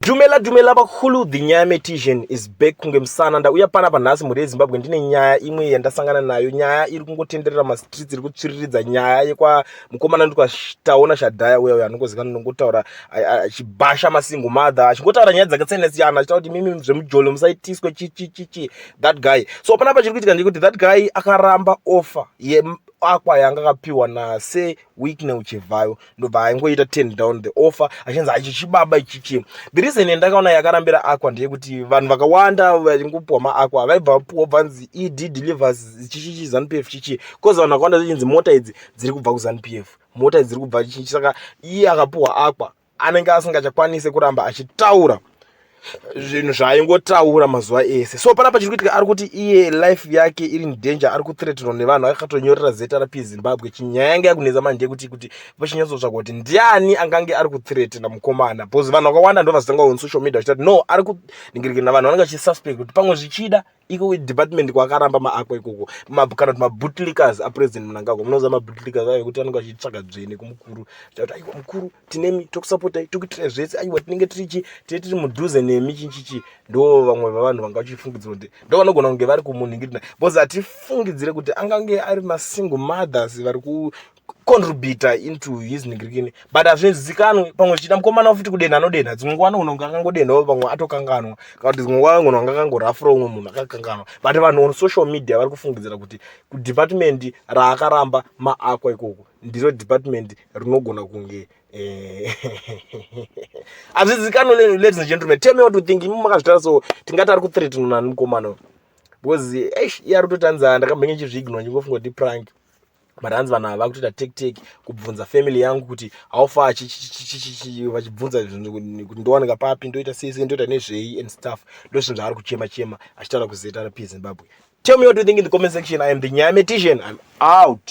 Dumela dumela bakhulu the nyaya metician is back kunge musana ndauya pana panhasi mhuri yezimbabwe ndine nyaya imwe yandasangana nayo nyaya iri kungotenderera mastreets iri kutsviriridza nyaya yekwa mukomana ndikataona shadhaya uya uya anongozikana nongotaura achibhasha masingle mother achingotaura nyaya dzakasiyana siyana achitaura kuti mimi zvemujolo musaitiswe chichichichi that guy so panapa chiri kuitika ndekuti that guy akaramba offer akwa yanga akapiwa nase week neuchivhayo ndobva aingoita ten down the offer achinzi aichi chibaba ichichi the reason yandakaona yakarambira aqua ndeyekuti vanhu vakawanda vaingopuwa maaqua vaibva vapuwa bvanzi ed delivers chichichi zanp f chichi bcause vanhu vakawanda zvichinzi mota idzi dziri kubva kuzanp f mota idzi dziri kubva chichi saka iye akapuwa aqua anenge asingachakwanise kuramba achitaura zvinhu zvaaingotaura mazuva ese so panapa chiri kuitika ari kuti iye life yake iri indanger ari kuthreatenwa nevanhu akakatonyorera zrp zimbabwe chinyaya yanga yakunetsa manje ndeyekuti kuti vachinyatsotsvaga kuti ndiani angange ari kuthreatena mukomana bcause vanhu vakawanda ndo vazitanga on social media vachitati no ari kuningirikana vanhu vanenge vachisuspect kuti pamwe zvichida iko department kwakaramba maakwa ikoko kana kuti mabootlickers apresident munangagwa munoziva mabootlickers ayo kuti anenge achitsvaga dzvene kumukuru chakuti aiwa mukuru tinemi tokusapotai tokuitirai zvese aiwa tinenge tiri chi tine tiri mudhuze nemi chinchichi ndo vamwe vavanhu vanga vachifungidzira kuti ndo vanogona kunge vari kumunhingirina bcause hatifungidzire kuti angange ari masingle mothers vari contributor into his nigirikini but hazvizikanwe pamwe zvichida mukomana futi kudenha anodenha dzimwe nguva anogona kunge akangodenhawo pamwe atokanganwa kana kuti dzimwe nguva anogona kunge akangorafura umwe munhu akakanganwa but vanhu on social media vari kufungidzira kuti kudepartment raakaramba maakwa ikoko ndiro department rinogona kunge eh, hazvizikanwe ladies and gentlemen tell me what you think imi makazvitara so tingati ari kuthreatenwa nani mukomana because eish iye ari kutotanzana ndakambenge chizviignwa ndingofunga kuti prank but hanzi vanhu ava vakutoita take take kubvunza family yangu kuti how far vachibvunza kuti ndowanika papi ndoita sei sei ndoita nezvei and stuff ndo zvinhu zvaari kuchema chema achitaura kuzrp zimbabwe tell me what you think in the comment section i am the nyametician i'm out